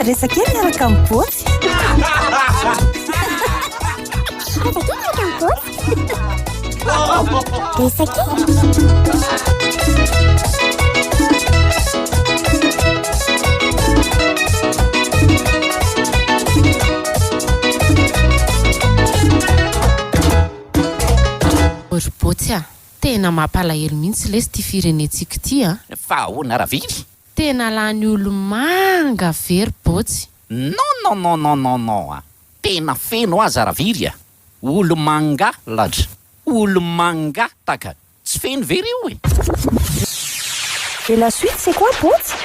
Resa kely miaraka amin'ny botsy. Resa kely Ry botsy a! Tena mampalahelo mihitsy lesy ity firenentsika ity a! Fa ahoana ravily? Tena lany olomanga very bôtsy. Non non non non non non a! Tena feno aza raviry a! Olomanga ladra! Olomanga taka! Tsy feno ve ry o e! Et la suite c'est quoi bôtsy?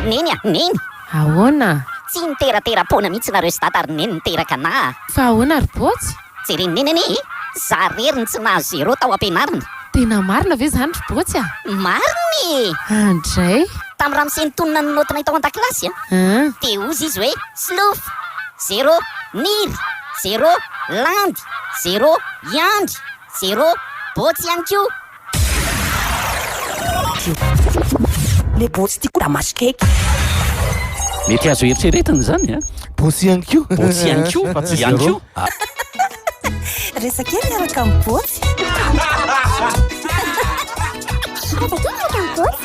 Neny a! Neny! Ahoana? Tsy niteratera-poana mihitsy nareo sy dada ry neny niteraka anà a! Fa ahoana ry bôtsy? Jeren'i Neny anie e! Za rery no tsy nahazo zéro tao ampianarana. Tena marina ve zany ry Botsy a? Marina e! Andray! Tamin'ny ramose nitonona ny naotinay tao an-dakilasy a! An! Dia hozy izy hoe, Slof! Zéro! Niry! Zéro! Landy! Zéro! Yandry! Zéro! Botsy ihany koa! Le botsy ty ko da masokeky. Mety azo eritreretana izany a. Botsy ihany koa. Botsy ihany koa. Fa tsy ihany koa. Resaka eo miaraka amin'ny botsy. Resaka eo miaraka amin'ny botsy.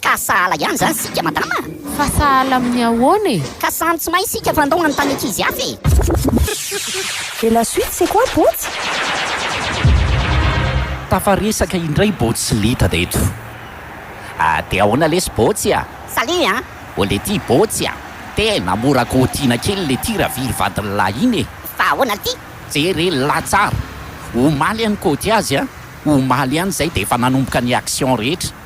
Ka sahala ihany zany sika madama a! Fa sahala amin'ny ahoana e? Ka samy tsy mahay sika fa ndao hanontany ankizy hafa e! Et la suite c'est quoi Botsy? Tafaresaka indray Botsy Litad eto. Ah de ahoana lesy Botsy a? Salut a! Oh lety Botsy a! Tena mora kôtiana kely lety raviry vadin'ny lahy iny e! Fa ahoana lety? Jere le lahy tsara! Omaly any kôty azy a! Omaly any zay de efa nanomboka ny action rehetra!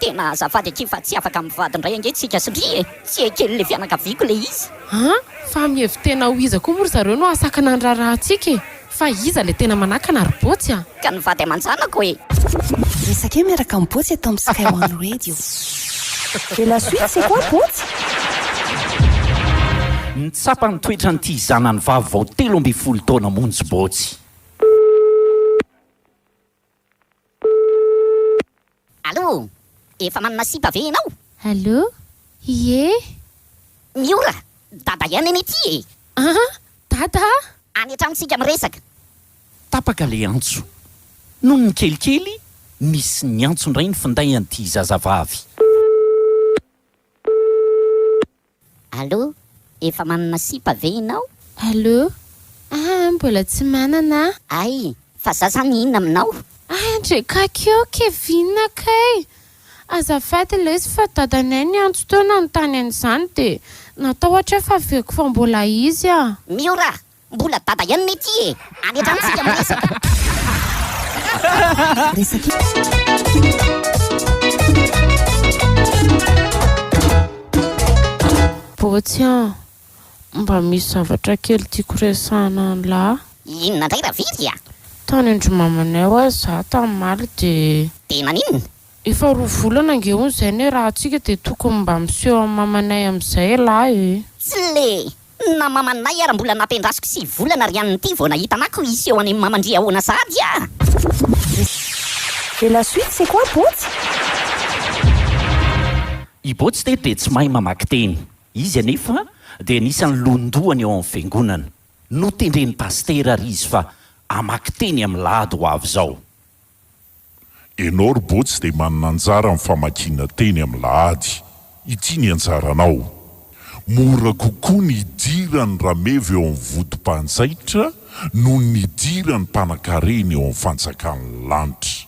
Tena azafady akia fa tsy afaka mivady ndray ange tsika sy ry e! Tsy ekeny le fianakaviako le izy. An! Fa mihevi-tena ho iza koa moa ry zareo no hahasakana ny raharahantsika e! Fa iza le tena manakana ry Botsy a! Ka nivady aman-janako e! Resaka eo miaraka am Botsy eto am Sky One Radio. Et la suite c'est quoi Botsy? Ny tsapa ny toetran'ity zanany vavy vao telo ambin'ny folo taona monjy Botsy. Allo! Efa manana sipa ve enao? Allo! Ie! Miora! Dada ihany anie ity e! An! Dada a! Any an-trano tsika miresaka! Tapaka le antso. Nony nikelikely nisy niantso indray ny finday an'ity zazavavy. Allo, efa manana sipa ve inao? Allo, ah ah mbola tsy manana ah. Ay, fa za zany inona aminao? Ay ndry kakeo Kevin kay, azafady lesy fa dadanay niantso teo nanontany an'izany dia natahotra aho fa veko fa mbola izy ah. Miora, Mbola dada ihany ne ty e! Any hatrany tsika miresaka. Bôtsy an! Mba misy zavatra kely tiako resahana anlah. Inona indray ravirry a! Tany an-dry mamanay hoa zah tam'maly de. De naninona? Efa roa volana ange hono zay ny rahantsika de tokony mba miseho am mamanay amzay elah e! Tsy le. Na mamanay ara mbola nampiandrasiko sivy volana ry ann ity vao nahita anah ko hisy eo any maman-dry ahoana sahady ah! Et la suite c'est quoi Bôtsy? I Bôtsy teto dia tsy mahay mamaky teny. Izy anefa dia anisan'ny lohandohany ao amin'ny fiangonana. Notendren'ny pasitera ary izy fa hamaky teny amin'ny lahady ho avy izao. Enao ry Botsy dia manana anjara amin'ny famakiana teny amin'ny lahady. Ity ny anjaranao. Mora kokoa ny hidiran'ny rameva eo amin'ny vodim-panjaitra noho ny hidiran'ny mpanakarena eo amin'ny fanjakan'ny lanitra.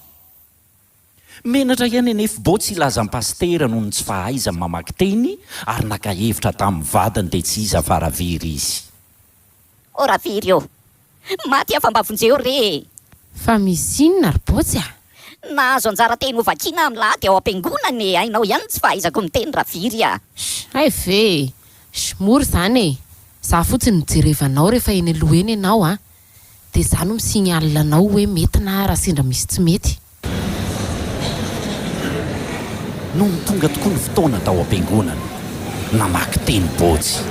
Menatra ihany anie fy Botsy hilaza an'i Pasitera noho ny tsy fahaizany mamaky teny ary naka hevitra tamin'ny vadiny dia tsy iza fa Ravery izy. Ô Ravery ô! Maty aho fa mba vonjeo re e! Fa misy inona ry Botsy a? Nahazo anjara teny ho vakiana amin'ny lahady ao am-piangonana e! Hainao ihany ny tsy fahaizako miteny raviry a! Sh! hay ve e! Sh! mora izany e! Za fotsiny no jerevanao rehefa eny aloha eny ianao a! Dia za no mi-signale anao hoe mety na raha sendra misy tsy mety. Nony tonga tokoa ny fotoana tao am-piangonana, namaky teny Botsy.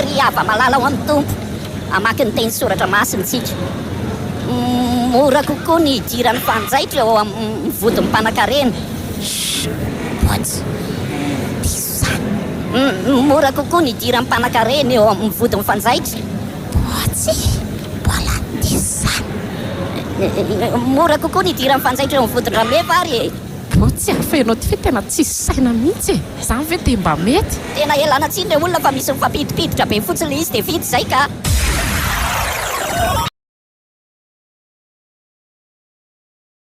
Ry hava-malala ao amin'ny Tompo, hamaky ny teny Soratra Masina isika. Mora kokoa ny hidiran'ny mpanjaitra eo amin'ny vodin'ny mpanankarena. Shh! Botsy, diso izany. Mora kokoa ny hidiran'ny mpanankarena eo amin'ny vodin'ny fanjaitra. Boatsy, Mbola diso izany. Mora kokoa ny hidiran'ny fanjaitra eo amin'ny vodin-dRameva ary e! Boatsy, Ary fa ianao ity ve tena tsisy saina mihitsy e! Izany ve dia mba mety? Tena ialana tsiny ilay olona fa misy mifampidipiditra be fotsiny ilay izy dia vita izay ka!